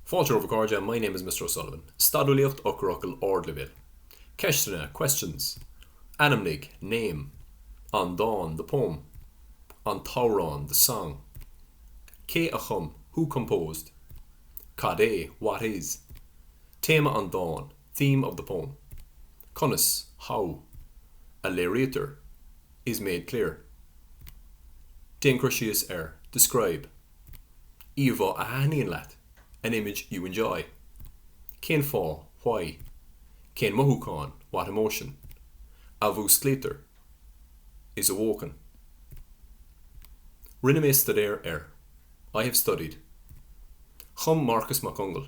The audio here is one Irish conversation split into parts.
Fáilte romhaibh a chairde, my name is Mr O'Sullivan. Stadúlaíocht Eochairfhocail Ardleibhéil. Ceisteanna, questions. Ainmnigh, name, an dán, the poem. an t-amhrán, the song. Cé a chum, who composed? Cad é, what is? Téama an dáin, theme of the poem. Conas, how, a léirítear, is made clear? Déan cur síos ar, describe. Íomhá a thaithníonn leat, an image you enjoy. Cén fáth? Why? Cén mothúchán? What emotion? a mhúsclaítear, is awoken. Rinne mé staidéar ar, I have studied. Chum Marcus Mac Conghail.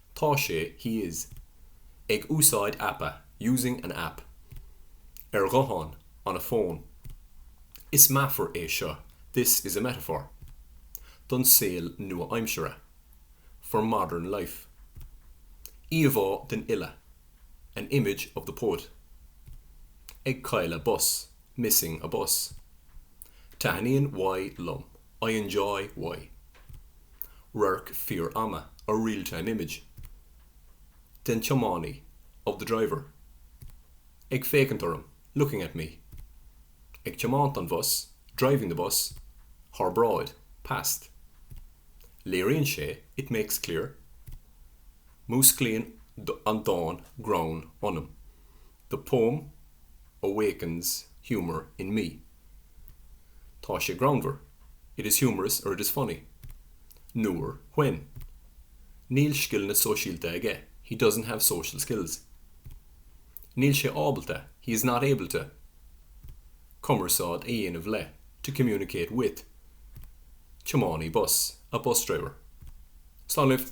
Tá sé, he is. Ag úsáid aipe, using an app. Ar ghuthán, on a phone. Is meafar é seo, this is a metaphor. Don saol nua-aimsire, for modern life. Íomhá den fhile, an image of the poet. Ag cailleadh bus, missing a bus. Taithníonn Y liom, I enjoy Y. radharc fíor-ama, a real-time image, den tiománaí, of the driver, ag féachaint orm, looking at me, ag tiomáint an bhus, driving the bus, thar bráid, past, léiríonn sé, it makes clear, músclaíonn an dán greann ionam, the poem awakens humour in me. Tá sé greannmhar, it is humorous or it is funny. Nuair, when. Níl scileanna sóisialta aige, he doesn't have social skills. Níl sé ábalta, he is not able to. Cumarsáid a dhéanamh le, to communicate with. Tiománaí bus, a bus driver. Slán libh!